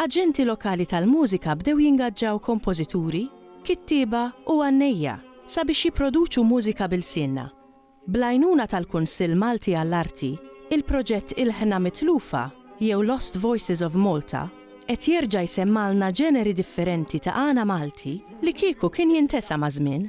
Aġenti lokali tal-mużika bdew jingaġġaw kompożituri, kittieba u għannejja sabiex jipproduċu mużika b'ilsienna. Bl-għajnuna tal-Kunsill Malti għall-Arti, il-proġett Ilħna Mitlufa jew Lost Voices of Malta qed jerġa' jsemmgħalna ġeneri differenti ta' għana Malti li kieku kien jintesa maż-żmien.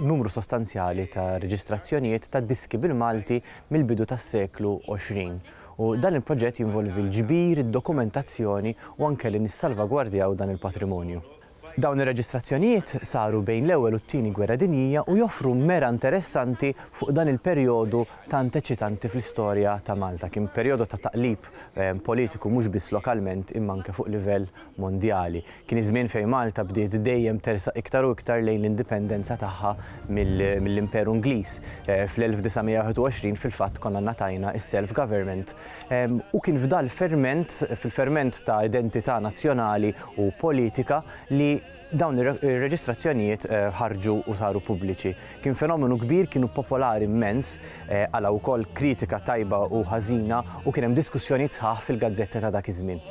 numru sostanzjali ta' reġistrazzjonijiet ta' diski bil-Malti mill-bidu tas-seklu 20 u dan il-proġett jinvolvi l-ġbir, id-dokumentazzjoni u anke li nissalvagwardjaw dan il-patrimonju. Dawn ir-reġistrazzjonijiet saru bejn l-Ewwel u t-Tieni Gwerra Dinjija u joffru mera interessanti fuq dan il-perjodu tant eċitanti fl-istorja ta' Malta. Kien perjodu ta' taqlib politiku mhux biss lokalment imma anke fuq livell Mondjali. Kien iż-żmien fejn Malta bdiet dejjem tersaq iktar u iktar lejn l-indipendenza tagħha mill-Imperu Ingliż. Fl-1921 fil-fatt konna ngħatajna s-self government u kien f'dan l-ferment, fil-ferment ta' identità nazzjonali u politika li, Dawn ir-reġistrazzjonijiet eh, ħarġu u saru pubbliċi. Kien fenomenu kbir, kienu popolari immens, eh, għala wkoll kritika tajba u ħażina u kien hemm diskussjonijiet sħaħ fil-gazzetta ta' dak iż-żmien.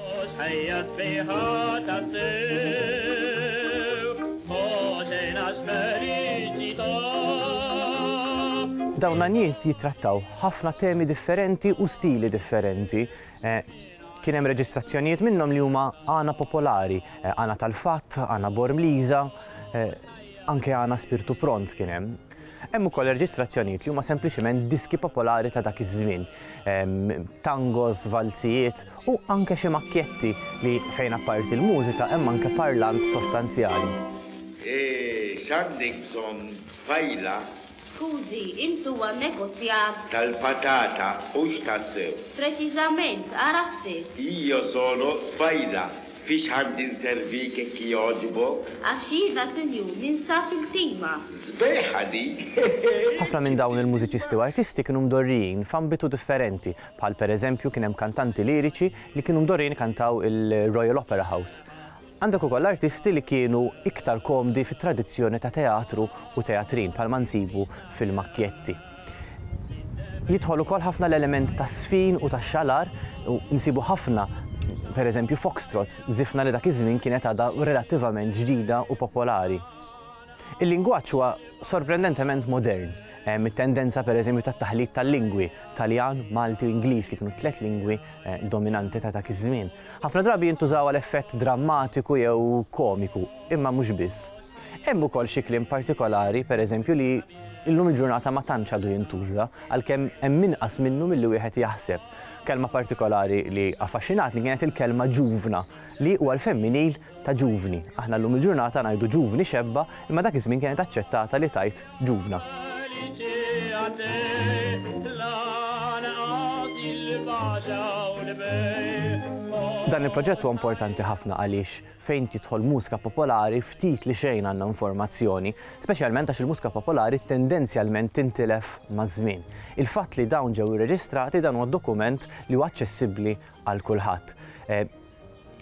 Dawn l jitrattaw ħafna temi differenti u stili differenti. Eh, Kien hemm reġistrazzjonijiet minnhom li huma għana popolari, għana tal-fatt, għana bormliża, anke għana spirtu pront kien hemm. Hemm ukoll reġistrazzjonijiet li huma sempliċiment diski popolari ta' dak iż-żmien, tangos, valzijiet u anke xi makkjetti li fejn apparti l-mużika hemm anke parlant sostanzjali. X'għandek bżonn tfajla Skużi, int huwa negozjant? Tal-patata, hux tassew? Preċiżament, ara ħsir. Io sono Sbaila, fiex għandi nservik jekk jogħġbok? Għax jiena, sinjur, ninsab il-tima. Sbieħa dik, hehe! Ħafna minn dawn il-mużiċisti u artisti kienu mdorrijin f'ambitu differenti, bħal pereżempju kien hemm kantanti liriċi li kienu mdorrijin ikantaw il-Royal Opera House. Għandek ukoll artisti li kienu iktar komdi fit-tradizzjoni ta' teatru u teatrin bħalma nsibu fil-Macchietti. Jidħol ukoll ħafna l-element tas-sfin u tax-xalar u nsibu ħafna pereżempju foxtrots, żifna li dak iż-żmien kienet għadha relattivament ġdida u popolari. Il-lingwaġġ huwa sorprendentement modern, hemm it-tendenza pereżempju tat-taħlit tal-lingwi, Taljan, Malti u Ingliż li kienu t-tliet lingwi dominanti ta' dak iż-żmien. Ħafna drabi jintużaw għal effett drammatiku jew komiku, imma mhux biss. Hemm ukoll xi kliem partikolari, pereżempju, li illum il-ġurnata ma tantx għadu jintuża, għalkemm hemm inqas minnu milli wieħed jaħseb. Kelma partikolari li affaxxinatni kienet il-kelma ġuvna, li huwa l-femminil ta' ġuvni. Aħna llum il-ġurnata ngħidu ġuvni xebba imma dak iż-żmien kienet aċċettata li tgħid ġuvna. Dan il-proġett huwa importanti ħafna għaliex fejn tidħol mużka popolari ftit li xejn għandna informazzjoni, speċjalment għax il-mużka popolari tendenzjalment tintilef maż-żmien. Il-fatt li dawn ġew irreġistrati dan huwa dokument li huwa aċċessibbli għal kulħadd.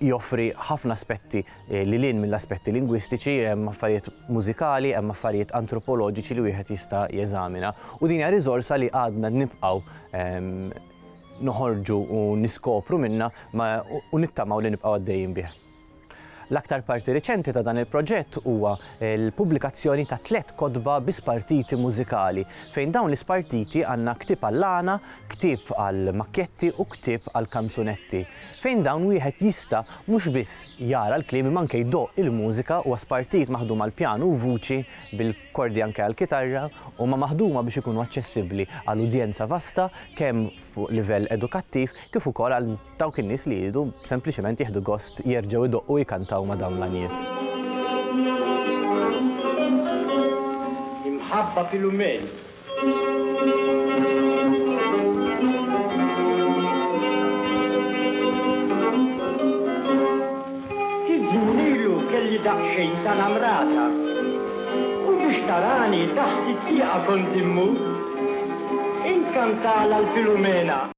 joffri ħafna aspetti lil hinn mill-aspetti lingwistiċi, hemm affarijiet mużikali, hemm affarijiet antropoloġiċi li wieħed jista' jeżamina. U din hija riżorsa li għadna nibqgħu noħorġu u niskopru minna u nittamaw li nibqgħu għaddejjin bih. L-aktar parti riċenti ta' dan il-proġett huwa eh, l-pubblikazzjoni ta' tliet kodba bi spartiti mużikali, fejn dawn l-ispartiti għandna ktib għall-għana, ktib għall-makketti u ktib għall-kanzunetti. fejn dawn wieħed jista' mhux biss jara l-kliem imma anke jdoqq il-mużika, huwa spartit, maħdum għall-pjanu u vuċi, bil-kordi anke għall-kitarra, huma maħduma biex ikunu aċċessibbli għal udjenza vasta kemm fuq livell edukattiv kif ukoll għal dawk in-nies li jridu sempliċement jieħdu gost jerġgħu jdoqqu u jkantaw ma' dawn l-għanjiet. Imħabba Filumeni. Kif żminilu kelli daqsxejn ta' namrata u biex tarani taħt it-tieqa kont immur, inkantala l-Filumena.